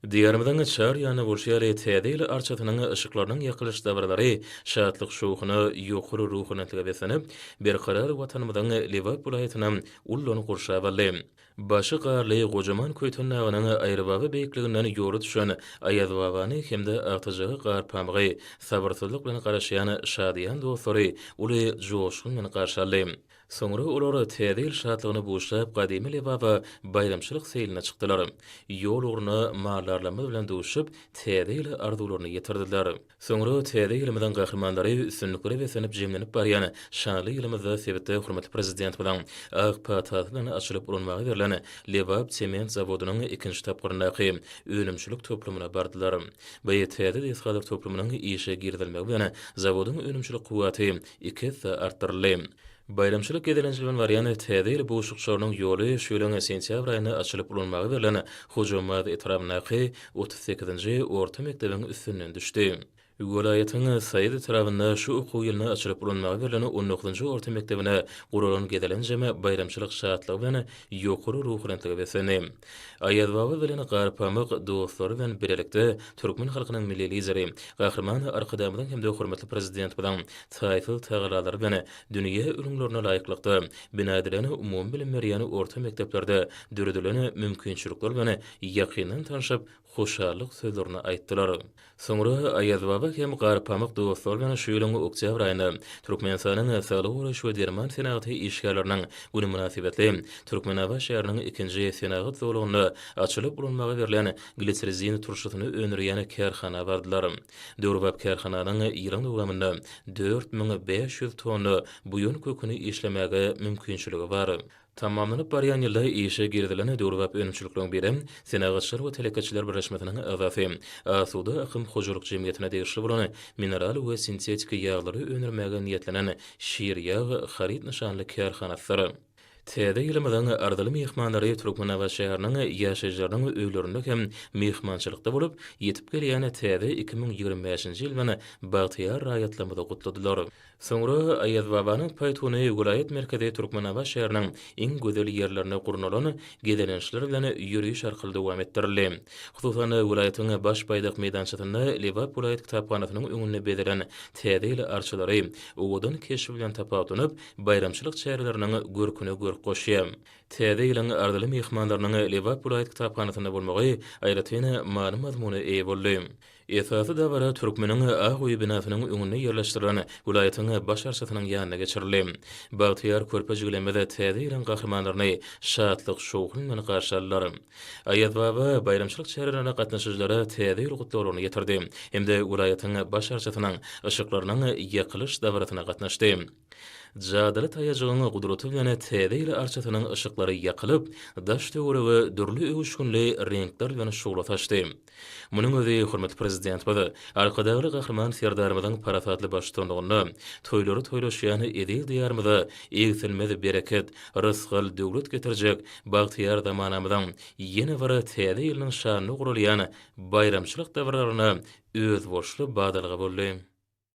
Diýarymyzyň çar ýanyna gurşýar Täze ýyl arçasynyň yşyklarynyň ýakylyş dabaralary şatlyk-şowhuna, ýokary ruhubelentlige beslenip, Berkarar Watanymyzyň Lebap welaýatyny ullan gurşap aldy. Başy garly, gojaman Köýten dagynyň aýrybaba beýikliginden ýola düşen Aýazbabany hem-de agtyjaga gar pamygy sabyrsyzlyk bilen garaşýan şadyýan dostlary uly joşgun bilen garşy aldy. Soňra olar Täze ýyl şatlygyna buşap, gadymy Lebaba baýramçylyk seýline çykdylar. Ýol ugruna maldarlarymyz bilen duşup, Täze ýyla arzuwlaryny ýetirdiler. Soňra Täze ýylymyzyň gahrymanlary üstünliklere beslenip jemlenip barýan şanly ýylymyzda sebitde hormatly Prezidentimiziň ak patasy bilen açylyp ulanmaga berlen Lebap sement zawodynyň ikinji tapgyryndaky önümçilik toplumyna bardylar. Bu täze desgalar toplumynyň işe girizilmegi bilen zawodyň önümçilik kuwwaty iki esse artdyryldy. Baýramçylyk gezelenji bilen barýan Täze ýyl buşlukçarynyň ýoly şu ýylyň sentýabr aýynda açylyp ulanmaga berlen Hojambaz etrabyndaky otuz sekizinji orta mekdebiň üstünden düşdi. Welaýatyň Saýat etrabynda şu okuw ýylynda açylyp ulanmaga berlen on dokuzynjy orta mekdebine guralan gezelenjem baýramçylyk şatlygy bilen ýokary ruhubelentlige beslendi. Aýaz baba bilen Garpamyk dostlary bilen bilelikde türkmen halkynyň Milli Lideri, Gahryman Arkadagymyzyň hem-de hormatly Prezidentimiziň taýsyz tagallalary bilen dünýä ülňülerine laýyklykda bina edilen umumybilim berýän orta mekdeplerde döredilen mümkinçilikler bilen ýakyndan tanşyp, hoşallyk sözlerini aýtdylar. Soňra Aýaz baba hem Garpamyk dostlary bilen şu ýylyň oktýabr aýynda Türkmenistanyň Saglygy goraýyş we derman senagaty işgärleriniň güni mynasybetli Türkmenabat şäheriniň ikinji senagat zolagynda açylyp ulanmaga berlen glitsrizin turşusyny öndürýän kärhana bardylar. Döwrebap kärhananyň ýylyň dowamynda dört müň bäş ýüz tonna buýan köküni işlemäge mümkinçiligi bar. Tamamlanyp barýan ýylda işe girizilen döwrebap önümçilikleriň biri Senagatçylar we telekeçiler birleşmesiniň agzasy, Asuda akym hojalyk jemgyýetine degişli bolan mineral we sintetiki ýaglary öndürmäge niýetlenen Şirýag haryt nyşanly kärhanasydyr. Täze ýylymyzyň arzyly myhmanlary Türkmenabat şäheriniň ýaşaýjylarynyň öýlerinde hem myhmançylykda bolup, ýetip gelýän täze iki müň ýigrimi bäşinji ýyldan bagtyýar raýatlarymyzy gutladylar. Soňra Aýazbabanyň paýtuny welaýat merkezi Türkmenabat şäheriniň iň gözel ýerlerinde gurnalan gezelençler bilen ýöriş arkaly dowam etdirildi. Hususan, welaýatyň Baş baýdak meýdançasynda Lebap welaýat kitaphanasynyň öňünde bezelen Täze ýyl arçalary owadan keşbi bilen tapawutlanyp, baýramçylyk çäreleriniň görküne görk goşýar. Täze ýylyň arzyly myhmanlarynyň Lebap welaýat kitaphanasynda bolmagy aýratyn many-mazmuna eýe boldy. Esasy dabara Türkmeniň ak öýi binasynyň öňünde ýerleşdirilen welaýatyň Baş arçasynyň ýanynda geçirildi. Bagtyýar körpe jigilimiz täze ýylyň gahrymanlaryny şatlyk-şowhun bilen garşy aldylar. Aýazbaba baýramçylyk çärelerine gatnaşyjylara Täze ýyl gutlaglaryny ýetirdi hem-de welaýatyň Baş arçasynyň yşyklarynyň ýakylyş dabarasyna gatnaşdy. Jadyly taýajygyň gudraty bilen täze ýyl arçasynyň yşyklary ýakylyp, daş-töwerege dürli öwüşginli reňkler bilen şugla saçdy. Munuň özi hormatly Prezidentimiz Arkadagly Gahryman Serdarymyzyň parasatly baştutanlygynda toýlary toýlaşýan eziz Diýarymyza egsilmez bereket, rysgal, döwlet getirjek bagtyýar zamanamyzyň ýene bir täze ýylynyň şanyna guralýan baýramçylyk dabararyna özboluşly badalga boldy.